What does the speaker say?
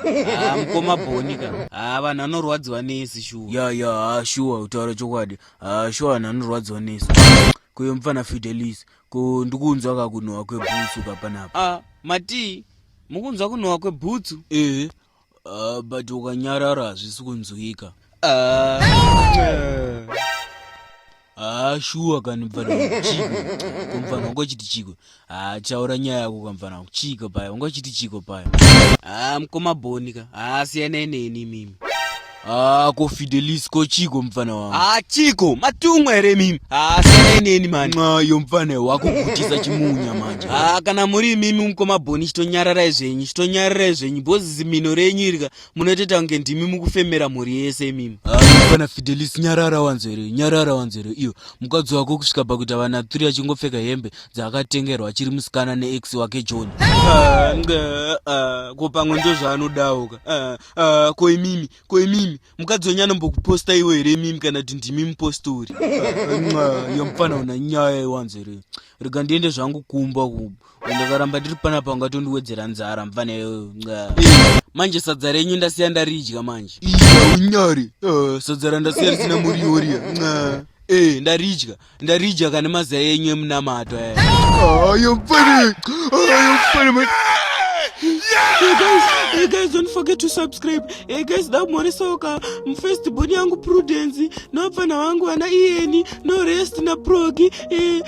Ah, mukoma bhoni ka haa ah, vanhu anorwadziwa nesi shuwa ya ya haa ah, shuwa utaura chokwadi haa shuwa vanhu anorwadziwa nesi kuyo mupfana fidelis ko ndikunzwa ka kunhuwa kwebhutsu ka panapa a matii mukunzwa kunhuwa kwebhutsu ee uh, but ukanyarara hazvisi kunzwika uh, uh. haa shuwa kani mfana wangu chiko ko mfana wangu achiti chiko haa chaura nyaya yako ka mfana wangu chiko paya wangu achiti chiko paya haa mkoma boni ka haa siyanai neni mimi haa ko fidelis ko chiko mfana wangu haa chiko matumwa here mimi haa siyanai neni mani mwayo mfana wakugutisa chimunya manje haa kana muri imimi mkoma boni chitonyararai zvenyu chitonyararai zvenyu bhozi zimino renyu irika munotoita kunge ndimi mukufemera mhuri yese imimi kana ah, fidelis nyarara wanzere nyarara wanzere iyo mukadzi wako kusvika pakuita vana 3 achingopfeka hembe dzaakatengerwa achiri musikana neex wake john ah, ah, ko pamwe ndo zvaanodawo ka ko imimi ko imimi mukadzi wenyu anombokuposta iwo here imimi kana kuti ndimi mupostori iyo mufana una nyaya iwanzere rega ndiende zvangu kumba kumba ndakaramba ndiri panapa ungatondiwedzera nzara mvana manje sadza renyu ndasiya ndaridya manje unyari eh, sadza randasiya risina muriwo riya ee eh, ndaridya ndaridya kane mazai enyu emunamato eh. ayo mfana ayo mfana Hey guys, hey guys, don't forget to subscribe. Hey guys, da more soka. Mfest boni yangu Prudence, no pfana wangu ana Ieni, no rest na Progi. Hey.